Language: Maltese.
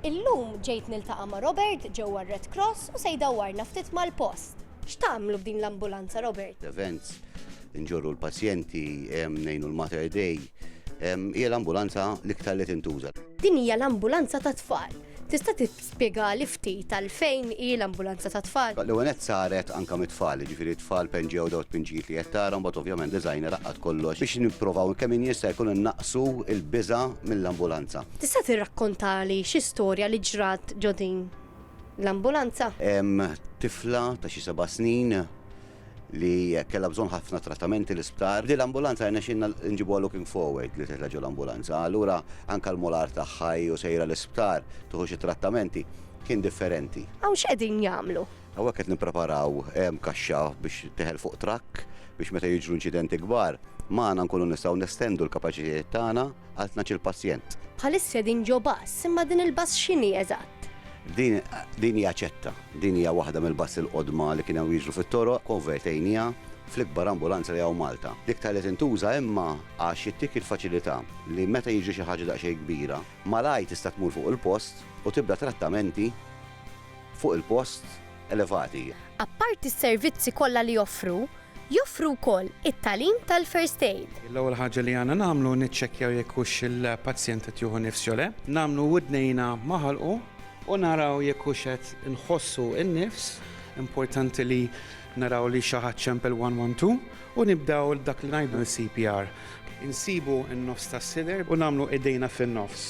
Illum ġejt niltaqa' ma' Robert ġewwa r-Red Cross u se jdawwarna ftit mal-post. X'tagħmlu b'din l-ambulanza, Robert? Events, nġorru l-pazjenti, ngħinu l-Mater Dei. Hija l-ambulanza l-iktar li tintuża. Din hija l-ambulanza tat-tfal. Tista' Spjegali ftit għalfejn hi l-ambulanza tat-tfal? L-ewwel nett saret anke mit-tfal, jiġifieri t-tfal penġew dawn it-tpinġijiet li qed tara u mbagħad ovvjament designer għaqqad kollox biex nipprovaw kemm jien jista' jkun innaqqsu l-biża' mill-ambulanza. Tista' tirrakkontali xi storja li ġrat ġo din l-ambulanza? Hemm tifla ta' xi seba' snin li kellha bżonn ħafna trattamenti l-isptar. Din l-ambulanza rnexxinna nġibuha looking forward li titla' ġo l-ambulanza. Allura anke l-molar tagħha hi u sejra l-isptar tieħu xi trattamenti kien differenti. Hawn x'qegħdin jagħmlu? Hawnhekk qed nippreparaw kaxxa biex titteħel fuq trakk biex meta jiġru inċidenti kbar magħna nkunu nistgħu nestendu l-kapaċitajiet tagħna għal tnax-il pazjent. Bħalissa qegħdin ġo bass, imma din il-bass x'inhi eżatt? Din hija ċetta. Din hija waħda mill-bassi l-qodma li kienu jiġru fit-toroq, konvertejniha fl-ikbar ambulanza li hawn Malta. L-iktar li tintuża imma għax ittik il-faċilità li meta jiġri xi ħaġa daqsxejn kbira, malajr tista' tmur fuq il-post u tibda trattamenti fuq il-post elevati. Apparti s-servizzi kollha li joffru, Joffru wkoll it-tagħlim tal-first aid. L-ewwel ħaġa li għandna nagħmlu niċċekkjaw jekk hux il-pazjent qed jieħu nifs jew le. Nagħmlu widnejna ma' ħalqu. U naraw jekk hux qed inħossu n-nifs. Importanti li naraw li xi ħadd xemp il-112 u nibdew dak li ngħidu l-CPR. Insibu n-nofs tas-sider u nagħmlu idejna fin-nofs.